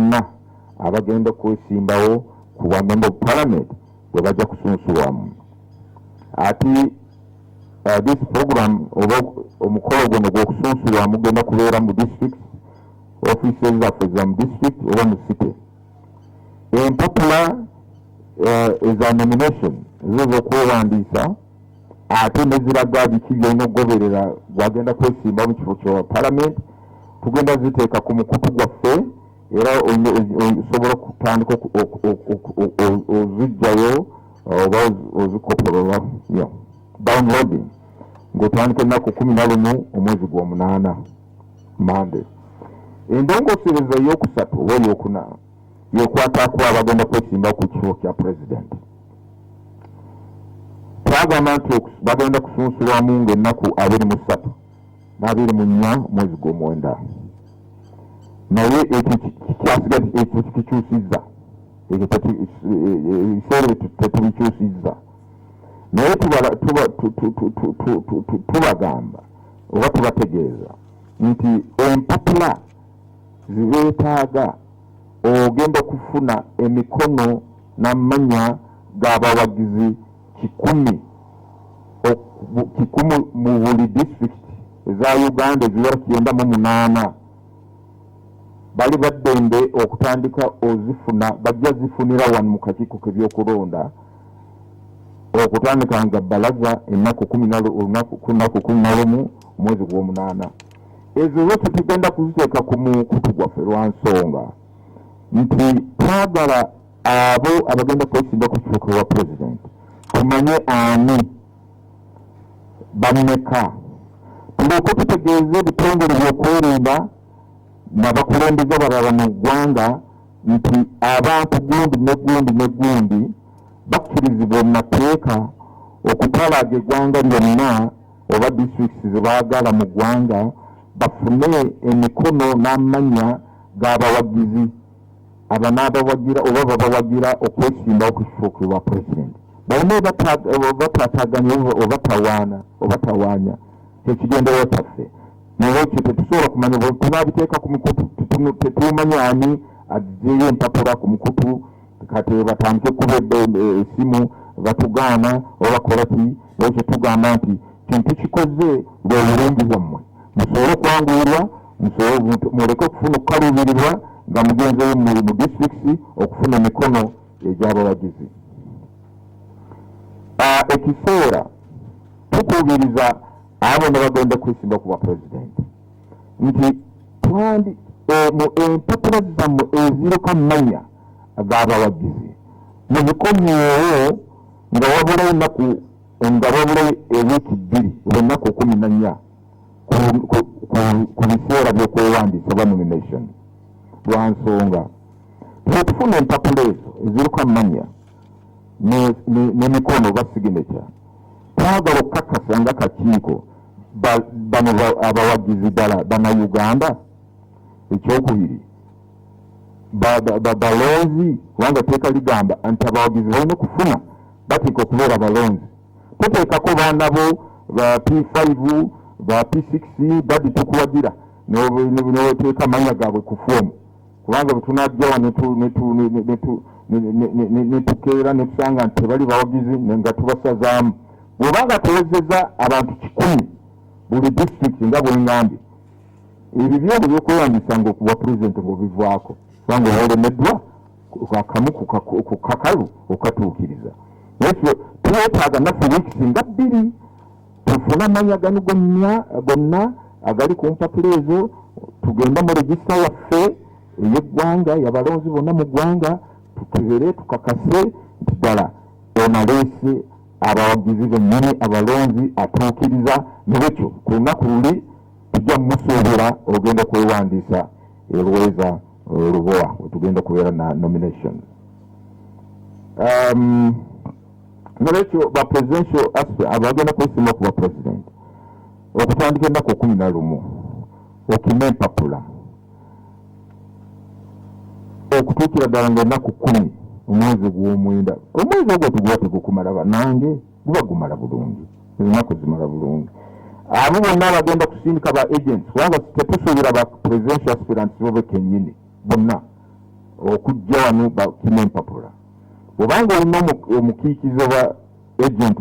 bonna abagenda okwesimbawo ku bwa member of parliament bwe bajja kusunsulwamu ate uh, this program oba omukolo guno gw'okusunsulwamu genda kubeera mu district offices zaffe za mu district oba mu city empapula uh, eza nomination zo z'okwewandiisa ate neziraga biki byolina okugoberera gwagenda kwesimba mu kifo kya palamenti tugenda ziteeka ku mukutu gwaffe era osobola okutandika ozijjayo oba ozikopolola yo downloading ng'otandika ennaku kumi na lumu omwezi gw'omunaana mande endongosereza ey'okusatu oba ey'okuna yekwatako abagenda kwesimba ku kifo kya pulezidenti twagamba nti bagenda kusunsulwamu ngaennaku abiri mu ssatu n'abiri mu nnya mwezi gw'omwenda naye ekyo kikyasigazi ekyo kikikyusizza ekyo ebiseera ebyo tetubikyusizza naye tubagamba oba tubategeeza nti empapula zibetaaga ogenda okufuna emikono namanya gabawagizi kikumi kikumi mu buli disitulikiti eza uganda eziwera kyenda mu munaana bali baddembe okutandika ozifuna bajja zifunira wano mu kakiiko kebyokulonda okutandika nga balaza ennaku kumi olunaku kumi nalumu mwezi gwomunaana ezo zo tetugenda kuziteeka ku mukutu gwaffe lwa nsonga nti twagala abo abagenda kwesimba ku kifuuka wa pulezidenti tumanye ani bameka tuleke tutegeeze ebitongole byokwerinda nabakulembeza balala mu ggwanga nti abantu gundi ne gundi ne gundi bakkirizibwa mu mateeka okutalaaga eggwanga lyonna oba districts zebagala mu gwanga bafune emikono n'amanya g'abawagizi abanaabawagira oba babawagira okwesimbawo ku kifo kwe bwa president balina obatataganya obatawaana obatawaanya kyekigenderewa kyaffe nolwekyo tetusobola kumanya bwetunabiteeka ku mikutu tetumanyi ani azeyo empapula ku mukutu kati batandike kuba esimu batugaana obakola ki naye kyetugamba nti kintu kikoze bwe bulungi bwammwe musobole okwanguirwa muleke okufuna okukaluubirirwa nga mugenzeyo mu disitulikiti okufuna emikono egyabawagizi ah, ekiseera tukuubiriza abo ne bagenda kwesimba ku bwapulezidenti nti twandi eh, mu empapula zammwe eziruka manya ag'abawagizi mubikomyewo nga wabula ennaku nga wabula ewiiki bbiri oba ennaku kumi na nnya ku biseera by'okwewandiisa oba nomination lwa nsonga twetufuna empapula ezo eziriko amannya nemikono oba signature twagala okukakasa nga kakiiko bano abawagizi ddala banauganda ekyokubiri balonzi kubanga teeka ligamba nti abawagizi balina okufuna bateeka okubeera balonzi toteekako baana bo ba p5 ba p6 dadi tukuwagira neweteeka amanya gaabwe ku foomu kubanga bwetunajjawa netukeera netusanga nti tebali bawagizi nga tubasazaamu bwobanga tewezeza abantu kikumi buli disitulikiti nga bwengambye ebyo byona ebyokweyambisa nga okuwa pulezidenti ngaobivaako kubanga olemeddwa akamu ku kakalu okatuukiriza nekyo twetaaga naffe wiikisi nga bbiri tufune amanya gano gonna gonna agali ku mpapula ezo tugende mu regisita yaffe eyeggwanga yabalonzi bonna mu ggwanga tukebere tukakase nti ddala onaleese abawagizi bennyini abalonzi atuukiriza nebwekyo ku lunaku luli tujja mumusuubira ogenda kwewandiisa elweza olubowa eh, wetugenda okubeera na nomination um, nolwekyo ba presidential aspe abagenda kwesima okuba president okutandika ennaku kumi na lumu okima empapula okutuukira ddala nga ennaku kkumi omwezi ogw'omwenda omwezi ogwo tuguba tegukumala banange guba gumala bulungi ennaku zimala bulungi abo bonna abagenda kusindika ba agents kubanga tetusuubira ba presidential aspirants bo be kennyini bonna okujja wano bakima empapula bwobanga olina omukiikizi oba agent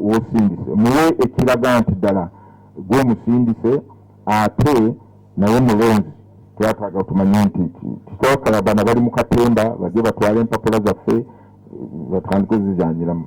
wosindise muwe ekiraga nti ddala gwomusindise ate naye mulonzi twetaaga otumanye nti kisooka abana bali mu katemba bajje batwale empapula zaffe batandike zizanyiramu